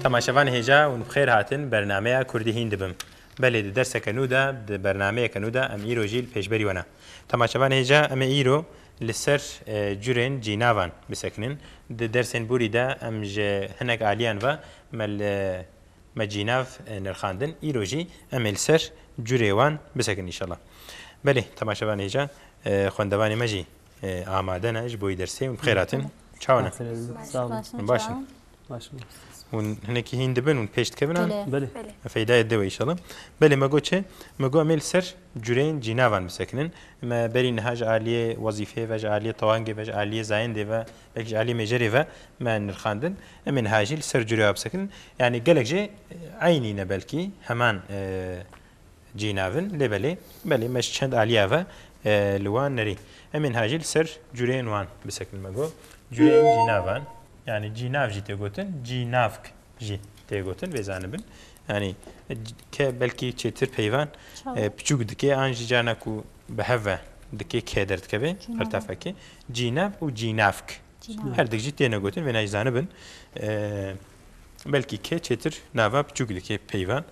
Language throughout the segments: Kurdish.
Temaşevan hêja û bi xêr hatin bernameya Kurdî hîn dibim. Belê di derseke nû de, di bernameyeke nû de em îro jî li pêşberî we ne. Temaşevan hêja em ê îro li ser curên cînavan bisekinin. Di dersên borî de em ji hinek aliyan ve me li me cînav nirxandin. Îro jî em ê li ser curê wan bisekinin înşallah. Belê temaşevan hêja xwendevanê me jî Amade ne ji bo yî dersê hûn bi xêr hatin. Çawa ne? Baş in. Hûn hinekî hîn dibin hûn pêş dikevin an? Belê. Feydayê dewe inşallah. Belê me got çi? Me got em ê li ser cureyên cînavan bisekinin. Me berî niha ji aliyê wezîfeyê ve, ji aliyê tewangê ve, ji aliyê zayendê ve, belkî ji aliyê mêjerê ve me nirxandin. Em ê niha jî li ser cureya bisekinin. Yanî gelek jê eynî ne belkî heman Cî nav in lê belê belê me ji çend aliya ve li wan nerî. Em ên hajî li ser cureyên wan bisekin me got cureyên cînavan yanî cînav jî tê gotin cînavk jî tê gotin vê zanibin yanî ke belkî çêtir peyvan piçûk dikê an jî carna ku bi hev ve dikê kê derdikevê qirtafekê cînav û cînavk her dik jî têne gotin vê nayî zanibin Belkî kê çêtir nava piçûk dikê peyvan.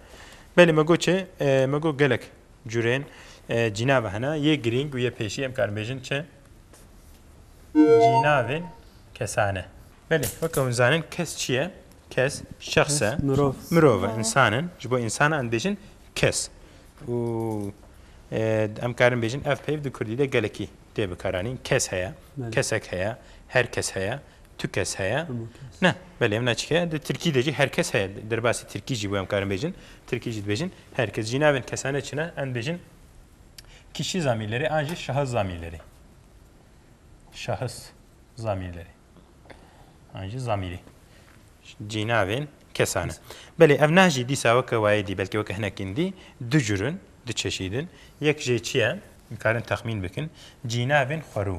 Belê me got çi? Me got gelek curên cînava hene. Yê girîng û yê pêşî em karin bêjin çi? Cînavên kesane. Belê weke hûn zanin kes çi ye? Kes şexs e. Mirov. Mirov e, însan in. Ji bo însan em dibêjin kes. Û em karin bêjin ev peyv di kurdî de gelekî tê bikaranîn. Kes heye, kesek heye, her kes heye. Tu kes heye? Ne, belê em neçik heye. Di Tirkî de jî her kes heye. Derbasî Tirkî jî bo em karin bêjin. Tirkî jî dibêjin her kes. Jînavên kesanê çi ne? Em dibêjin kişî zamîrlerê an jî şahis zamîrlerê. Şahis zamîrlerê. An jî zamîrê. Cînavên kesane. Belê ev nah jî dîsa weke wayê dî belkî weke hinekîn dî du cur in, du çeşîd in. Yek jê çi ye? Em karin texmîn bikin. Cînavên xwerû.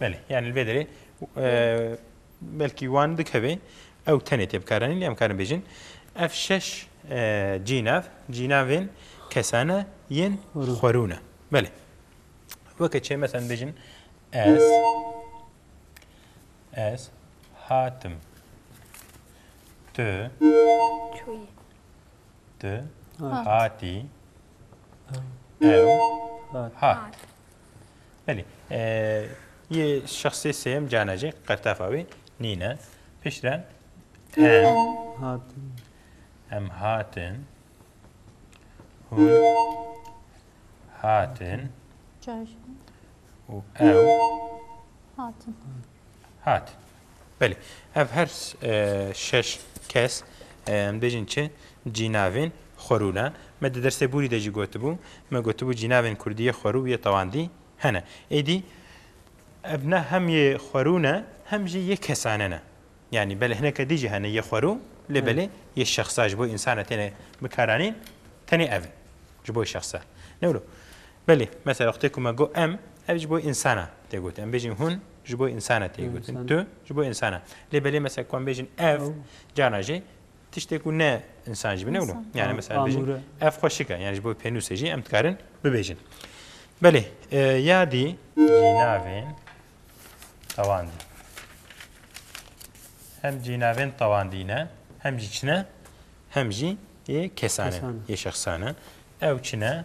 Belê yani li vê derê belkî wan dikevê ew tenê tê bikaranîn lê em karin bêjin ev şeş cînav cînavên kesane yên xwerûne belê weke çê mesen bêjin ez ez hatim tu tu hatî ew hat Belê. Yê şexsê sêyem canecê qertefa wê nîne. Pişren hatin. Em hatin. Hûn hatin. Çarşamba. û ew hatin. Hat. Belê. Ev her şeş kes em bêjin çi cînavên xwerû ne. Me di dersê bûrî de jî gotibû, me gotibû cînavên kurdî yê xwerû yê tewandî hene. Êdî ev ne hem yê xwerû ne hem jî yê kesane ne. Yanî belê hineke dî jî hene yê xwerû lê belê yê şexsa ji bo însan re têne bikaranîn tenê ev in ji bo şexsa. Ne wilo. Belê, mesela wextê ku me got em, ev ji bo însan e tê gotin. Em bêjin hûn ji bo însan e tê gotin, tu ji bo însan e. Lê belê mesela ku em bêjin ev, carna jî tiştê ku ne însan jî bine wilo. Yani mesela bêjin ev xweşik e, yani ji bo pênûsê jî em dikarin bibêjin. Belê, yadî cînavên tewandî. Hem cînavên tewandî ne, hem jî çi ne, hem jî yê kesan e, yê şexsan e. Ew çi ne,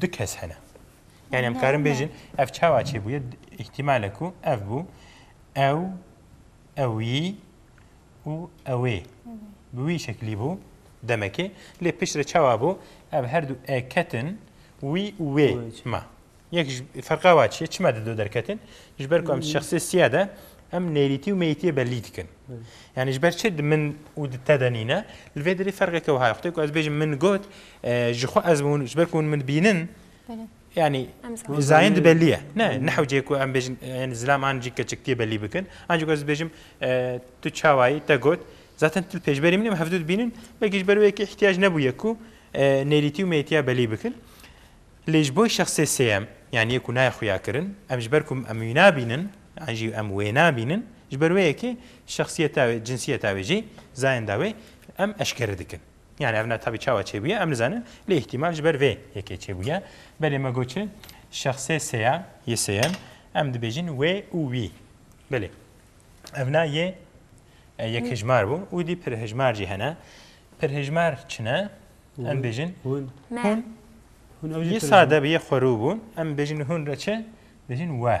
Du kes hene. Yani em karin bêjin ev çawa çêbûye îhtîmale ku ev bû ew ewî û ewê bi wî şeklî bû demekê lê pişt re çawa bû ev her du e ketin wî û wê ma yek ferqa wa çiye çima di do derketin ji ber ku em şexsê siya de em nêrîtî û meyîtiye belî dikin yani ji ber çi di min û di te de nîne li vê derê ferqeke wiha xwedê ku ez bêjim min got Ji xwe ez hûn ji ber ku hûn min bînin yanî zayin dibelî ye. Ne nehewcê ku em bêjin yanî zilam an jî keçiktiyê belî bikin. An jî ku ez dibêjim tu çawayî te got zaten tu li pêşberî min î em hevdu dibînin belkî ji ber wê yekê îhtiyaj nebûye ku nêrîtî û mêrîtiya belî bikin. Lê ji bo şexsê sêyem yanî yê ku nayê xuya kirin em ji ber ku em wî nabînin an jî em wê nabînin ji ber wê yekê şexsiyeta wê, cinsiyeta wê jî zayin da wê em eşkere dikin. Yani ev ne tabî çawa çêbûye em nizanin lê îhtîmal ji ber vê yekê çêbûye. Belê me got çi? Şexsê seya yê sêyem em dibêjin wê û wî. Belê. Ev na yê yek hejmar bû û dî pir hejmar jî hene. Pir hejmar çi ne? Em bêjin hûn. Yê sade bi yê xwerû bûn em bêjin hûn re çi? Bêjin we.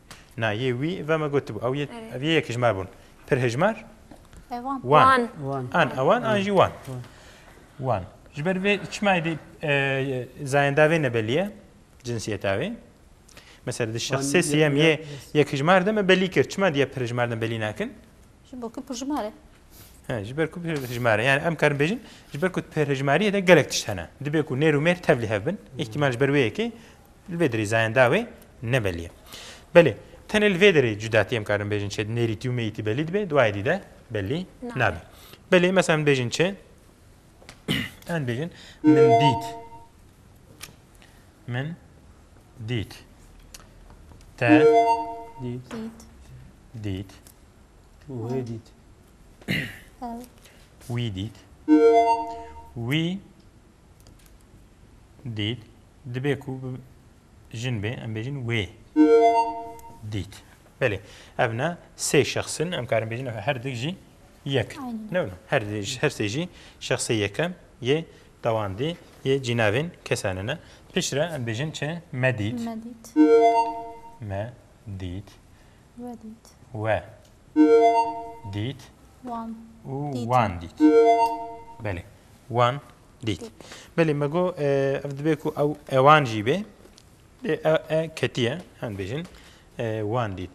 Na yê wî ve me gotibû ew yê ev yê yekijmar bûn. Pirhijmar? Ewan. Wan. Wan. An ewan an jî wan. Wan. Ji ber vê çima êdî zayenda vê nebelî ye cinsiyeta wê. Mesela di şexsê sêyem yê yekijmar de me belî kir. Çima diya pirhijmar de belî nakin? Ji bo ku pirjimar e. He, ji ber ku pirjimar e. Yani em karin bêjin, ji ber ku pirjmariyê de gelek tişt hene. Dibê ku nêr û mêr tevlî hev bin. Îhtîmal ji ber wê yekê li vê derê zayenda wê nebelî ye. Belê, tenê li vê derê cudatî em karin bêjin çi nêrîtî û mêyîtî belî dibe, duayê dî de belî nabe. Belê, mesela min bêjin çi Em bêjin min dît. Min dît. Te dît. Dît. Tu wê dît. Ew. Wî dît. Wî dît. Dibê ku jin bê em bêjin wê dît. Belê. Ev ne sê şexsin em karin bêjin her dik jî Yek. Newna. Her dij, her sê jî şexsê yekem yê dewandî yê cînavên kesanin e. Piştre em bêjin çi? Me dît. Me dît. Me dît. We dît. We dît. Wan. Û wan dît. Belê. Wan dît. Belê me got ev dibe ku ew ewan jî bê. Dê e ketiye em bêjin wan dît.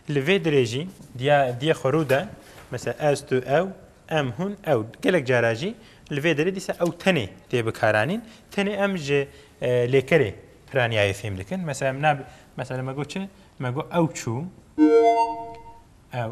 Li vê dirê jî diya diyê xwe rû de mesela ez tu ew em hûn ew gelek cara jî li vê dirê dîsa ew tenê tê bikaranîn tenê em ji lêkerê piraniyayê fêm dikin mesela em mesela me got çi me got ew çû ew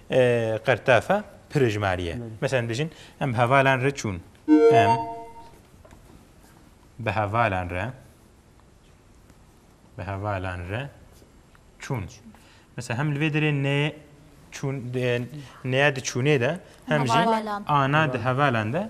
Qertafa pirêjmarî ye. Meselen dijin em bi hevalan re çûn. Em bi hevalan re bi hevalan re çûn. Mesela hem li vê derê nê çûn nêya di çûnê de hem jî ana di hevalan de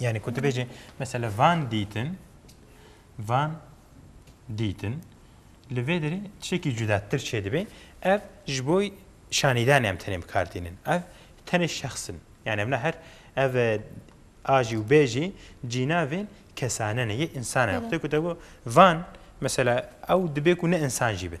Yani ku tu bêjî mesela van dîtin van dîtin li vê derê tişekî cudatir çê dibê ev ji bo şanîdanê em tenê bikar tînin ev tenê şexsin yani em ne her ev ajî û bêjî cînavên kesanene yê insane te ku te van mesela ew dibê ku ne insan jî bin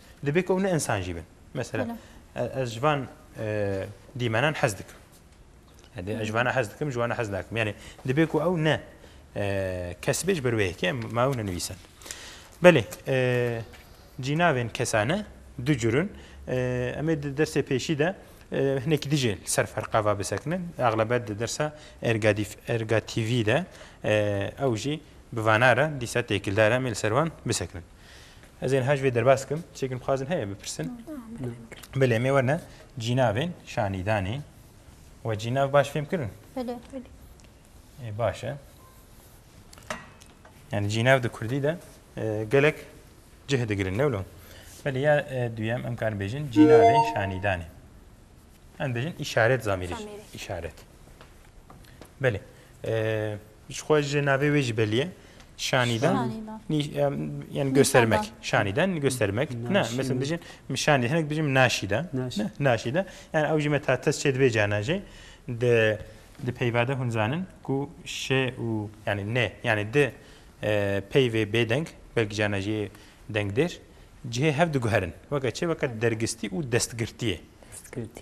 Dibê ku ew ne insan jî bin. Mesela ez ji van dîmenan hez dikim. Ez ji vana hez dikim, ji wana hez nakim. Yani dibê ku ew ne kes bê ji ber wê yekê ma ew nenivîsin. Belê cînavên kesane du curin em ê di dersê pêşî de hinekî dijê ser ferqa va bisekinin. Exlebet di dersa ergatîvî de ew jî bi vanare dîsa têkildar em ê li ser wan bisekinin. Ez ên hej vê derbas kim. Çêkin bixwazin heye bipirsin. Bilê mê werne cînavên şanîdanê we cînav baş fêm kirin. Ê baş e. Yani cînav di Kurdî de e, gelek cih digirin ne wilo. Belê ya e, duyem em karin bêjin cînavên şanîdanê. Em bêjin işaret zamîrî. İşaret. Belê. E, Ji xwe ji navê wê jî belî ye. Şanîdan yani göstermek. Şanîdan göstermek. Ne, mesela dijin şanî hinek dijin naşîda. Naşîda. Yani ew jî me ta test çê divê cana jî di di peyvade hûn zanin ku şe û yani ne yani di peyvê bêdeng belkî cana jî dengdêr cihê hev diguherin. Weke çê weke dergistî û destgirtiyê. Destgirtî.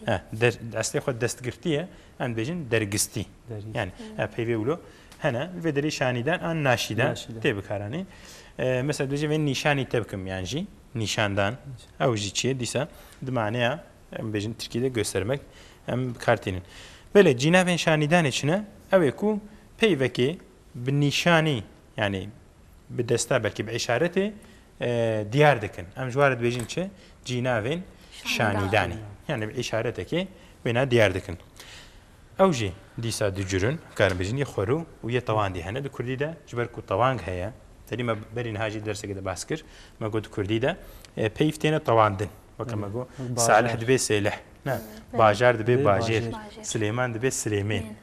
Eslê xwe destgirtiyê Em dibêjin dergistî. Yani ev peyvê wilo hene li vê derê şanîdan an naşîdan tê bikaranîn. Mesela dibêje vê nîşanî te bikim yan jî nîşandan ew jî çi ye dîsa di maneya em bêjin Tirkî de göstermek em bikartînin. Belê cînavên şanîdanê çi ne? Ew ê ku peyvekê bi nîşanî Yanî bi desta belkî bi îşaretê diyar dikin. Em ji war dibêjin çi? Cînavên şanîdanê. Yanî bi îşaretekê wêna diyar dikin. Ew jî dîsa du curin karin bêjin yê xwerû û yê tewandî hene. Di Kurdî de ji ber ku tewang heye, tedî me berî niha jî derseke de bas kir, me got di Kurdî de peyv têne tewandin. Weke me got Salih dibê Sêlih, ne bajar dibê bajêr, Silêman dibê Silêmên.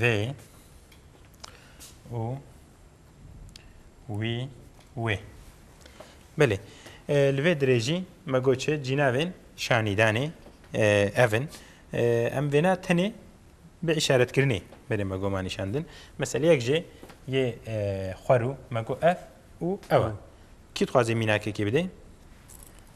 Vê û wî wê. Belê. Li vê dirê jî me got çi cînavên şanîdanê ev in. Em vêna tenê bi îşaretkirinê belê me goma nîşandin. Mesela yek jê yê xwerû me got ev û ew e. Kî dixwazê mînakekê bidê?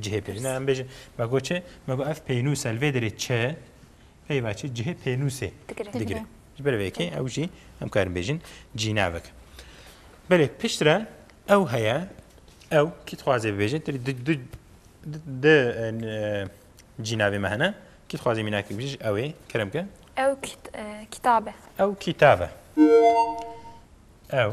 cihê pênûs. Hina em bêjin me got çi? Me got ev pênûs e li vê derê çi? Peyva çi? Cihê pênûsê digire. Ji ber vê yekê ew jî em karin bêjin cînavek. Belê pişt re ew heye ew kî dixwazê bibêje tu di cînavê me hene kî dixwazê mînakê bijî ji ewê kerem ke ew kitabe ew kitabe ew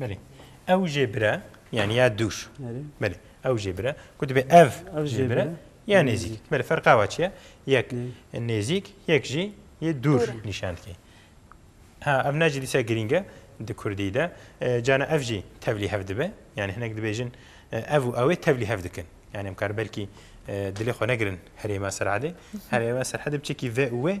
Belê. Ew jê bire yanî ya dûr. Belê. Ew jê bire ku dibe ev jê bire ya nêzîk. Belê ferqa wa çiye? Yek nêzîk, yek jî yê dûr nîşan dike. Ha ev ne jî dîsa girîng e di kurdî de. Cana ev jî tevlî hev dibe. Yanî hinek dibêjin ev û ewê tevlî hev dikin. Yanî em kar belkî dilê xwe negirin herêma Serhedê. Herêma Serhedê bi çekî ve û wê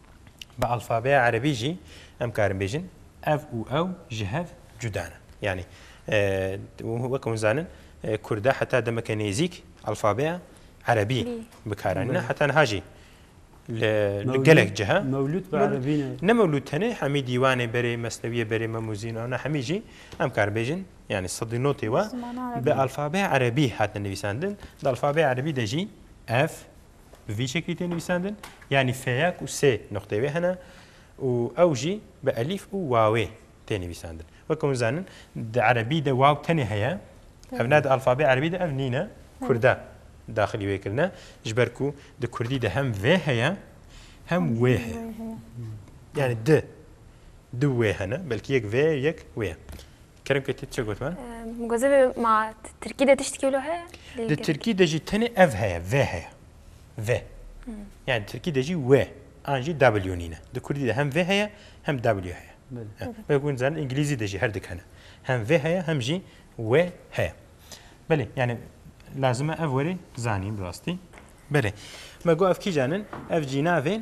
Bi alfabeya erebî jî em karin bêjin ev û ew ji hev cuda ne. Yanî weke hûn zanin Kurda heta demeke nêzîk alfabeya erebî bikaranîne heta niha jî li gelek ciha mewlûd bi erebî ne. Ne mewlûd tenê hemî dîwanê berê mesnewiyê berê memûzîn ew ne hemî jî em karin bêjin yanî sedî notê we bi alfabeya erebî hatine nivîsandin di alfabeya erebî de jî ev bi vî şeklî tê nivîsandin yanî feyak û sê nuqtê wê hene û ew jî bi elîf û wawê tê nivîsandin. Weke hûn zanin di erebî de waw tenê heye ev ne di alfabê erebî de ev nîne kurda daxilî wê kirine ji ber ku di kurdî de hem vê heye hem wê heye yanî di du wê hene belkî yek vê yek wê ye. Kerem Keti çi got min? Goze ve ma Tirkî de tiştekî wilo heye? Di Tirkî de jî tenê ev heye, ve heye. Ve. Yani Tirkî de jî we an jî W nîne. Di Kurdî de hem ve heye hem W heye. Belê. Hûn zanin Îngilîzî de jî her dik hene. Hem ve heye hem jî we heye. Belê yani lazim e ev werê zanîn rastî. Belê. Me got ev kîjan in? Ev cînavên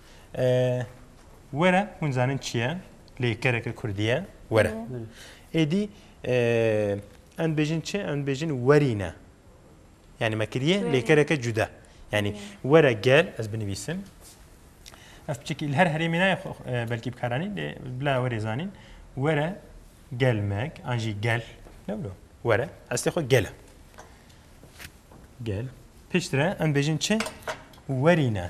Were, hûn zanin çi ye, lê kereke kurdî ye, were. Êdî em dibêjin çi? Em dibêjin werîne. Yani me kiriye lê kereke cuda. Yani were gel ez binivîsim. Ez piçekî li her herêmê nayê e, belkî bikaranîn lê bila werê zanîn. Were gelmek an jî gel. Lewlo were estê xwe gel e. Gel. Piştre em dibêjin çi? Werîne.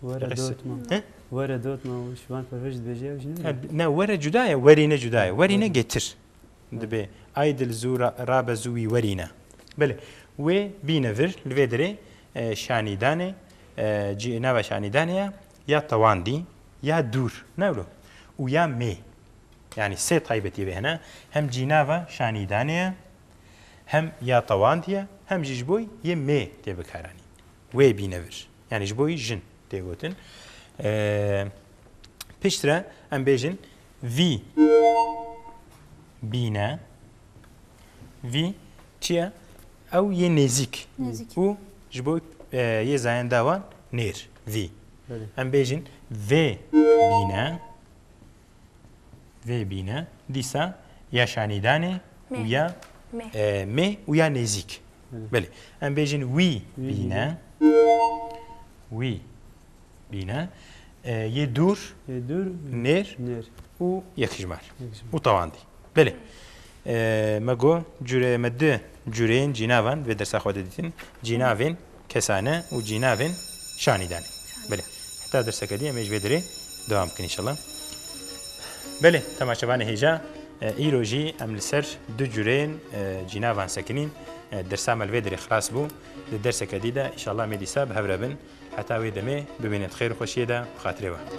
Were Resi- dotma. He? Were dotma û ji van pevij dibêje ew ji ne. He, Ne were cuda ye, werîne cuda ye. Werîne Werîne. getir. Dibe ay dil zû ra- rabe zû wî werîne. Belê. Wê bîne vir li vê derê e, şanîdanê e, cî nava şanîdanê ye ya tewandî ya dûr. Ne wilo? Û ya mê. Yanî sê taybetiyê vê hene. Hem cînava şanîdanê ye, hem ya tewandî ye, hem jî ji bo yê mê tê bikaranîn. Wê bîne vir. Yanî ji bo wî jin tê gotin. Pişt re em bêjin vî bîne vî çi ye? Ew yê nêzîk û ji bo yê zayen dawan nêr vî. Em bêjin vê bîne Vê bîne dîsa ya şanîdanê û ya mê û ya nêzîk. Belê. Em bêjin wî bîne. Wî bîne. Yê dûr, nêr û yekijmar. Û tewandî. Belê. Me got cure me di cureyên cînavan vê dersa xwe de dîtin. Cînavên kesane û cînavên şanî danê. Belê heta derseke dî em ê ji vê derê dewam bikin înşallah. Belê temaşevanê hêja îro jî em li ser du cureyên cînavan sekinîn. Dersa me li vê derê xilas bû. Di derseke dî de înşallah em ê dîsa bi hev re bin. Heta wê demê bimînin xêr û xweşiyê de bi xatirê we.